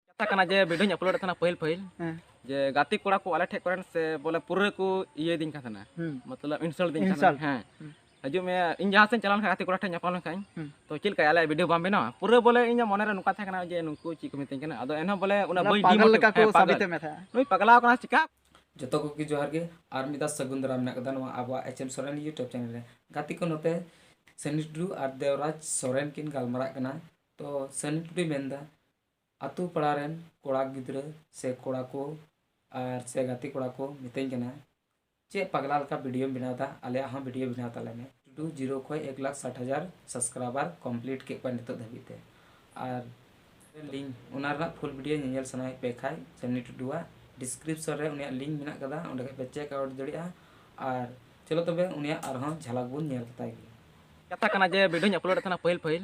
ᱠᱟᱛᱷᱟ ᱠᱟᱱᱟ ᱡᱮ ᱵᱷᱤᱰᱤᱭᱳᱧ ᱟᱯᱞᱳᱰ ᱮᱫ ᱛᱟᱦᱮᱱᱟ ᱯᱟᱹᱦᱤᱞ ᱯᱟᱹᱦᱤᱞ ᱡᱮ ᱜᱟᱛᱮ ᱠᱚᱲᱟ ᱠᱚ ᱟᱞᱮ ᱴᱷᱮᱡ ᱠᱚᱨᱮᱱ ᱥᱮ ᱵᱚᱞᱮ ᱯᱩᱨᱟᱹ ᱠᱚ ᱤᱭᱟᱹ ᱫᱤᱧ ᱠᱟᱱ ᱛᱟᱦᱮᱱᱟ ᱢᱚᱛᱞᱚᱵ ᱤᱱᱥᱟᱞᱴ ᱫᱤᱧ ᱠᱟᱱ ᱛᱟᱦᱮᱱᱟ ᱦᱮᱸ ᱦᱤᱡᱩᱜ ᱢᱮ ᱤᱧ ᱡᱟᱦᱟᱸ ᱥᱮᱫ ᱪᱟᱞᱟᱣ ᱞᱮᱱᱠᱷᱟᱱ ᱜᱟᱛᱮ ᱠᱚᱲᱟ ᱴᱷᱮᱡ ᱧᱟᱯᱟᱢ ᱞᱮᱱᱠᱷᱟᱱ ᱛᱚ ᱪᱮᱫ ᱞᱮᱠᱟ ᱟᱞᱮ ᱵᱷᱤᱰᱤᱭᱳ ᱵᱟᱢ ᱵᱮᱱᱟᱣᱟ ᱯᱩᱨᱟᱹ ᱵᱚᱞᱮ ᱤᱧᱟᱹᱜ ᱢᱚᱱᱮ ᱨᱮ ᱱᱚᱝᱠᱟ ᱛᱟᱦᱮᱸ ᱠᱟᱱᱟ ᱡᱮ ᱱᱩᱠᱩ ᱪᱮᱫ ᱠᱚ ᱢᱤᱛᱟᱹᱧ ᱠᱟᱱᱟ ᱟᱫᱚ ᱮᱱᱦᱚᱸ ᱵᱚᱞᱮ ᱚᱱᱟ ᱵᱟᱹᱧ ᱯᱟᱜᱚᱞ ᱞᱮᱠᱟ ᱠᱚ ᱥᱟᱵᱤᱛᱮ ᱢᱮ ᱛᱟᱦᱮᱸ ᱱᱩᱭ ᱯᱟᱜᱞᱟᱣ ᱠᱟᱱᱟ ᱪᱤᱠᱟ ᱡᱚᱛᱚ ᱠᱚᱜᱮ ᱡᱚᱦᱟᱨ ᱜᱮ ᱟᱨ ᱢᱤᱫ ᱫᱷᱟᱣ ᱥᱟᱹᱜᱩᱱ ᱫᱟᱨᱟᱢ ᱢᱮᱱᱟᱜ ᱠᱟᱫᱟ ᱱᱚᱣᱟ ᱟᱵᱚᱣᱟᱜ H M Soren YouTube channel ᱨᱮ ᱜᱟᱛᱮ ᱠᱚ ᱱᱚᱛᱮ ᱥᱟᱹᱱᱤ ᱴᱩᱰᱩ ᱟᱨ ᱫᱮᱣᱨᱟᱡᱽ ᱥᱚᱨᱮᱱ ᱠᱤᱱ ᱜᱟᱞᱢᱟᱨᱟᱜ ᱠᱟᱱᱟ ᱛᱚ ᱥᱟᱹᱱᱤ ᱴᱩᱰᱩᱭ ᱢᱮᱱᱫᱟ ᱟᱛᱳ ᱯᱟᱲᱟ ᱨᱮᱱ ᱠᱚᱲᱟ ᱜᱤᱫᱽᱨᱟᱹ ᱥᱮ ᱠᱚᱲᱟ ᱠᱚ ᱟᱨ ᱥᱮ ᱜᱟᱛᱮ ᱠᱚᱲᱟ ᱠᱚ ᱢᱤᱛᱟᱹᱧ ᱠᱟᱱᱟ ᱪᱮᱫ ᱯᱟᱜᱽᱞᱟ ᱞᱮᱠᱟ ᱵᱷᱤᱰᱤᱭᱳᱢ ᱵᱮᱱᱟᱣᱮᱫᱟ ᱟᱞᱮᱭᱟᱜ ᱦᱚᱸ ᱵᱷᱤᱰᱤᱭᱳ ᱵᱮᱱᱟᱣ ᱛᱟᱞᱮ ᱢᱮ ᱴᱩ ᱡᱤᱨᱳ ᱠᱷᱚᱱ ᱮᱠ ᱞᱟᱠᱷ ᱥᱟᱴ ᱦᱟᱡᱟᱨ ᱥᱟᱵᱥᱠᱨᱟᱭᱵᱟᱨ ᱠᱚᱢᱯᱞᱤᱴ ᱠᱮᱫ ᱠᱚᱣᱟ ᱱᱤᱛᱚᱜ ᱫᱷᱟᱹᱵᱤᱡ ᱛᱮ ᱟᱨ ᱞᱤᱝᱠ ᱚᱱᱟ ᱨᱮᱱᱟᱜ ᱯᱷᱩᱞ ᱵᱷᱤᱰᱤᱭᱳ ᱧᱮᱧᱮᱞ ᱥᱟᱱᱟᱭᱮᱫ ᱯᱮ ᱠᱷᱟᱱ ᱡᱟᱹᱱᱤ ᱴᱩᱰᱩᱣᱟᱜ ᱰᱤᱥᱠᱨᱤᱯᱥᱚᱱ ᱨᱮ ᱩᱱᱤᱭᱟᱜ ᱞᱤᱝᱠ ᱢᱮᱱᱟᱜ ᱟᱠᱟᱫᱟ ᱚᱸᱰᱮ ᱠᱷᱚᱱ ᱯᱮ ᱪᱮᱠ ᱟᱣᱩᱴ ᱫᱟᱲᱮᱭᱟᱜᱼᱟ ᱟᱨ ᱪᱚᱞᱚ ᱛᱚᱵᱮ ᱩᱱᱤᱭᱟᱜ ᱟᱨᱦᱚᱸ ᱡᱷᱟᱞᱟᱠ ᱵᱚᱱ ᱧᱮᱞ ᱛᱟᱭ ᱜᱮ ᱠᱟᱛᱷᱟ ᱠᱟᱱᱟ ᱡᱮ ᱵᱷᱤᱰᱤᱭᱳᱧ ᱟᱯᱞᱳᱰᱮᱫ ᱛᱟᱦᱮᱱᱟ ᱯᱟᱹᱦᱤᱞ ᱯᱟᱹᱦᱤᱞ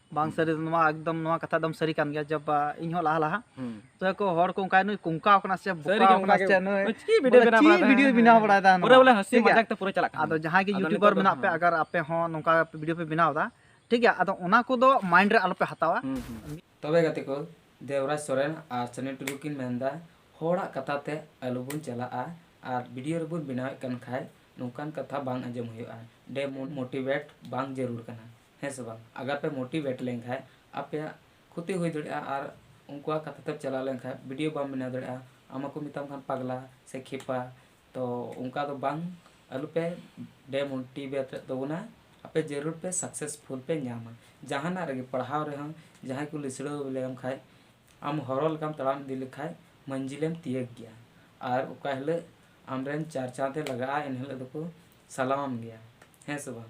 ᱵᱟᱝ ᱥᱟᱹᱨᱤ ᱫᱚ ᱱᱚᱣᱟ ᱮᱠᱫᱚᱢ ᱱᱚᱣᱟ ᱠᱟᱛᱷᱟ ᱮᱠᱫᱚᱢ ᱥᱟᱹᱨᱤ ᱠᱟᱱ ᱜᱮᱭᱟ ᱡᱚᱵ ᱤᱧ ᱦᱚᱸ ᱞᱟᱦᱟ ᱞᱟᱦᱟ ᱛᱚ ᱠᱚ ᱦᱚᱲ ᱠᱚ ᱚᱱᱠᱟ ᱱᱩᱭ ᱠᱩᱝᱠᱟᱣ ᱠᱟᱱᱟ ᱥᱮ ᱵᱚᱠᱟᱣ ᱠᱟᱱᱟ ᱥᱮ ᱱᱩᱭ ᱪᱤ ᱵᱤᱰᱤᱭᱳ ᱵᱮᱱᱟᱣ ᱵᱟᱲᱟᱭ ᱵᱤᱰᱤᱭᱳ ᱵᱮᱱᱟᱣ ᱵᱟᱲᱟᱭ ᱫᱟ ᱯᱩᱨᱟᱹ ᱵᱚᱞᱮ ᱦᱟᱹᱥᱤ ᱢᱟᱡᱟᱠ ᱛᱮ ᱯᱩᱨᱟᱹ ᱪᱟᱞᱟᱜ ᱠᱟᱱᱟ ᱟᱫᱚ ᱡᱟᱦᱟᱸᱭ ᱜᱮ ᱭᱩᱴᱤᱭᱩᱵᱟᱨ ᱢᱮᱱᱟᱜ ᱯᱮ ᱟᱜᱟᱨ ᱟᱯᱮ ᱦᱚᱸ ᱱᱚᱝᱠᱟ ᱵᱤᱰᱤᱭᱳ ᱯᱮ ᱵᱮᱱᱟᱣ ᱫᱟ ᱴᱷᱤᱠ ᱜᱮᱭᱟ ᱟᱫᱚ ᱚᱱᱟ ᱠᱚ ᱫᱚ ᱢᱟᱭᱤᱱᱰ ᱨᱮ ᱟᱞᱚ ᱯᱮ ᱦᱟᱛᱟᱣᱟ ᱛᱚᱵᱮ ᱜᱟᱛᱮ ᱠᱚ ᱫᱮᱵᱨᱟᱡᱽ ᱥᱚᱨᱮᱱ ᱟᱨ ᱥᱟᱹᱱᱤ ᱴᱩᱰᱩ ᱠᱤᱱ ᱢᱮᱱ ᱫᱟ ᱦᱚᱲᱟᱜ ᱠᱟᱛᱷᱟ ᱛᱮ ᱟᱞᱚ ᱵᱚᱱ ᱪᱟᱞᱟᱜᱼᱟ ᱟᱨ ᱵᱤᱰᱤᱭᱳ ᱨᱮᱵᱚᱱ ᱵᱮᱱᱟᱣᱮᱫ ᱠᱟᱱ ᱠᱷᱟᱡ ᱱᱚᱝᱠᱟᱱ ᱠᱟᱛᱷᱟ ᱵᱟᱝ ᱟᱸᱡᱚᱢ ᱦᱩᱭᱩᱜᱼᱟ ᱰᱮᱢᱳᱴᱤᱵᱮᱴ ᱵᱟᱝ ᱡᱟᱹᱨᱩᱲ ᱠᱟᱱᱟ ᱦᱮᱸ ᱥᱮ ᱵᱟᱝ ᱟᱜᱟᱨ ᱯᱮ ᱢᱳᱴᱤᱵᱷᱮᱴ ᱞᱮᱱᱠᱷᱟᱡ ᱟᱯᱮᱭᱟᱜ ᱠᱷᱚᱛᱤ ᱦᱩᱭ ᱫᱟᱲᱮᱭᱟᱜᱼᱟ ᱟᱨ ᱩᱱᱠᱩᱣᱟᱜ ᱠᱟᱛᱷᱟ ᱛᱮᱢ ᱪᱟᱞᱟᱣ ᱞᱮᱱᱠᱷᱟᱡ ᱵᱷᱤᱰᱤᱭᱳ ᱵᱟᱢ ᱵᱮᱱᱟᱣ ᱫᱟᱲᱮᱭᱟᱜᱼᱟ ᱟᱢ ᱦᱚᱸᱠᱚ ᱢᱮᱛᱟᱢ ᱠᱷᱟᱱ ᱯᱟᱜᱽᱞᱟ ᱥᱮ ᱠᱷᱮᱯᱟ ᱛᱚ ᱚᱱᱠᱟ ᱫᱚ ᱵᱟᱝ ᱟᱞᱚ ᱯᱮ ᱰᱮᱢᱳᱴᱤᱵᱷᱮᱴ ᱛᱟᱵᱚᱱᱟ ᱟᱯᱮ ᱡᱟᱹᱨᱩᱲ ᱯᱮ ᱥᱟᱠᱥᱮᱥᱯᱷᱩᱞ ᱯᱮ ᱧᱟᱢᱟ ᱡᱟᱦᱟᱱᱟᱜ ᱨᱮᱜᱮ ᱯᱟᱲᱦᱟᱣ ᱨᱮᱦᱚᱸ ᱡᱟᱦᱟᱸᱭ ᱠᱚ ᱞᱤᱥᱲᱟᱹᱣ ᱞᱮᱢ ᱠᱷᱟᱡ ᱟᱢ ᱦᱚᱨᱚ ᱞᱮᱠᱟᱢ ᱛᱟᱲᱟᱢ ᱤᱫᱤ ᱞᱮᱠᱷᱟᱡ ᱢᱟᱹᱡᱷᱤᱞᱮᱢ ᱛᱤᱭᱟᱹᱜᱽ ᱜᱮᱭᱟ ᱟᱨ ᱚᱠᱟ ᱦᱤᱞᱳᱜ ᱟᱢ ᱨᱮᱱ ᱪᱟᱨᱪᱟᱛᱮ ᱞᱟᱜᱟᱜᱼᱟ ᱮᱱ ᱦᱤᱞᱳᱜ ᱫᱚᱠᱚ ᱥᱟᱞᱟᱢᱟᱢ ᱜᱮᱭᱟ ᱦᱮᱸ ᱥᱮ ᱵᱟᱝ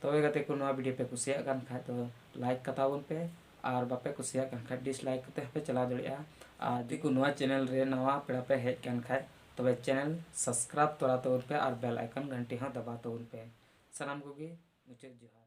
ᱛᱚᱵᱮ ᱜᱟᱛᱮ ᱠᱚ ᱱᱚᱣᱟ ᱵᱷᱤᱰᱤᱭᱳ ᱯᱮ ᱠᱩᱥᱤᱭᱟᱜ ᱠᱟᱱ ᱠᱷᱟᱡ ᱫᱚ ᱞᱟᱭᱤᱠ ᱠᱟᱛᱟ ᱵᱚᱱ ᱯᱮ ᱟᱨ ᱵᱟᱯᱮ ᱠᱩᱥᱤᱭᱟᱜ ᱠᱟᱱ ᱠᱷᱟᱡ ᱰᱤᱥᱞᱟᱭᱤᱠ ᱠᱟᱛᱮ ᱦᱚᱸᱯᱮ ᱪᱟᱞᱟᱣ ᱫᱟᱲᱮᱭᱟᱜᱼᱟ ᱟᱨ ᱡᱩᱫᱤ ᱠᱚ ᱱᱚᱣᱟ ᱪᱮᱱᱮᱞ ᱨᱮ ᱱᱟᱣᱟ ᱯᱮᱲᱟ ᱯᱮ ᱦᱮᱡ ᱠᱟᱱ ᱠᱷᱟᱡ ᱛᱚᱵᱮ ᱪᱮᱱᱮᱞ ᱥᱟᱵᱥᱠᱨᱟᱭᱤᱵ ᱛᱚᱨᱟ ᱛᱟᱵᱚᱱ ᱯᱮ ᱟᱨ ᱵᱮᱞ ᱟᱭᱠᱚᱱ ᱜᱷᱟᱱᱴᱤ ᱦᱚᱸ ᱫᱟᱵᱟᱣ ᱛᱟᱵᱚᱱ ᱯᱮ ᱥᱟᱱᱟᱢ ᱠᱚᱜᱮ ᱢᱩᱪᱟᱹᱫ ᱡᱚᱦᱟᱨ